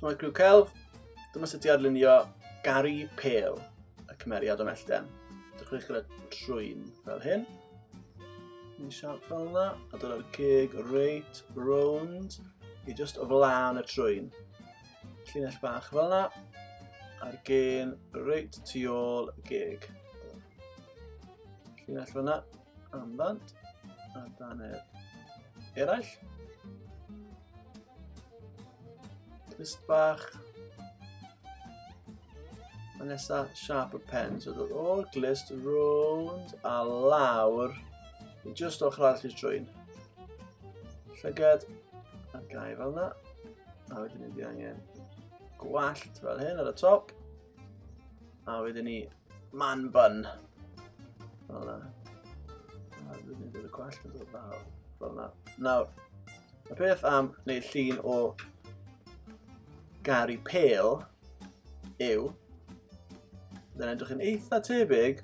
Mae Grw Celf, dyma sut i adlunio gari pel y cymeriad o mellten. Dechreuwch gyda trwyn fel hyn. Ni siarp fel yna, a dyna'r cig reit rownd i just o flaen y trwyn. Llinell bach fel yna. A'r gen reit tu ôl y geg. Llinell fel yna. Amdant. A dan er eraill. Twist bach. A nesa sharp y pen. So dod o'r glist rownd a lawr. Just o'ch rhaid chi'n drwy'n. Llyged. A gau fel yna. A wedyn ni fi angen gwallt fel hyn ar y top. A wedyn ni man bun. Fel yna. A wedyn ni dod y gwallt yn dod fel yna. Nawr, y peth am neu llun o garu pel yw Byddai'n edrych yn eitha tebyg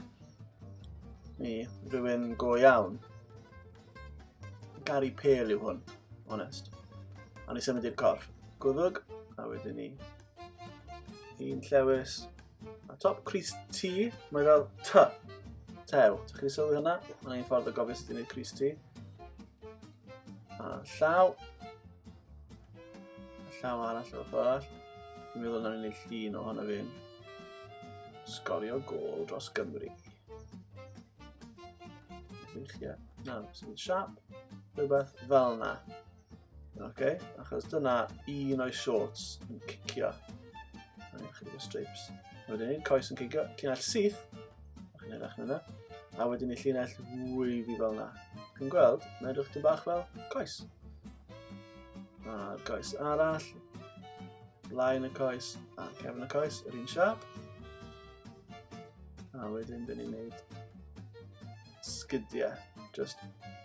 i rhywun go iawn. Gary Pale yw hwn, honest. A ni symud i'r corff. Gwddwg, a wedyn ni un llewis. A top Chris T, mae fel T. Tew. Ti'n chi sylwi hwnna? Mae'n ein ffordd o gofio sut i wneud Chris T. A llaw. A llaw arall o'r ffordd arall. Dwi'n meddwl na ni'n ei llun o hwn o fi'n sgorio gol dros Gymru. Weithiau. Na, sy'n siap. Rhywbeth fel yna. Oce, okay, achos dyna un o'i shorts yn cicio. Mae'n chydig o strips. Wedyn ni'n coes yn cicio, llinell syth. A chi'n edrych yna. A wedyn ni llinell fwy fi fel yna. Chi'n gweld, mae'n edrych dyn bach fel coes. A'r coes arall. Blaen y coes a cefn y coes, yr un siap. A wedyn dyn ni'n neud sgydiau. Just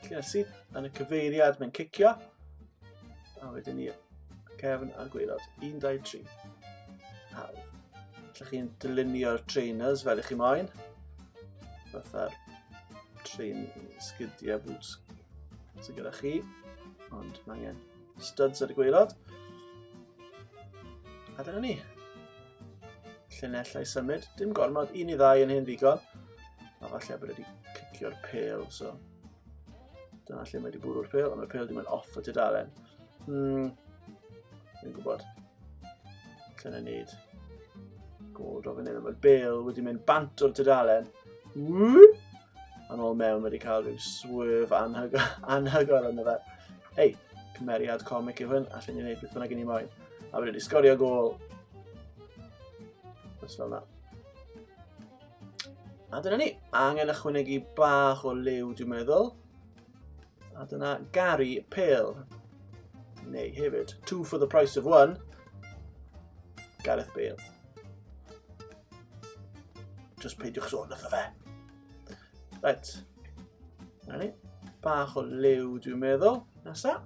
cyrsi yn y cyfeiriad mae'n cicio. A wedyn ni cefn a gweilod. 1, 2, 3. Hawdd. Lle chi'n dylunio'r trainers fel ych chi moyn. Fatha'r train sgydiau boots sy'n gyda chi. Ond mae angen studs ar y gweilod. A dyna ni. Llinellau symud. Dim gormod, un i ddau yn hen ddigon. A falle bod wedi cicio'r pel, so... Dyna lle mae wedi bwrw'r pel, ond mae'r pel wedi mynd off o tudalen. Hmm. Dwi'n gwybod. Llen ei wneud. Gold o fan hyn, mae'r bel wedi mynd bant o'r tudalen. Ww! Yn ôl mewn wedi cael rhyw swerf anhygol yna fe. Ei, cymeriad comic yw hyn, allan ni'n gwneud beth bynnag i ni moyn. A wedi sgorio gol. Os fel yna. A dyna ni, angen ychwanegu bach o liw dwi'n meddwl. A dyna Gary Pale. Neu hefyd, two for the price of one. Gareth Bale. Just peidiwch sôn wrtho fe. Right. Rani. Bach o liw dwi'n meddwl. Nesa.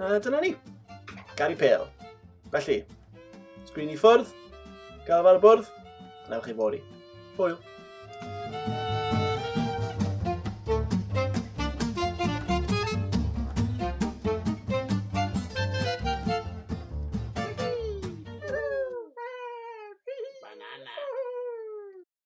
A dyna ni. Gary Pale. Felly, sgrin i ffwrdd, gael fel y bwrdd, a chi fori. Hwyl.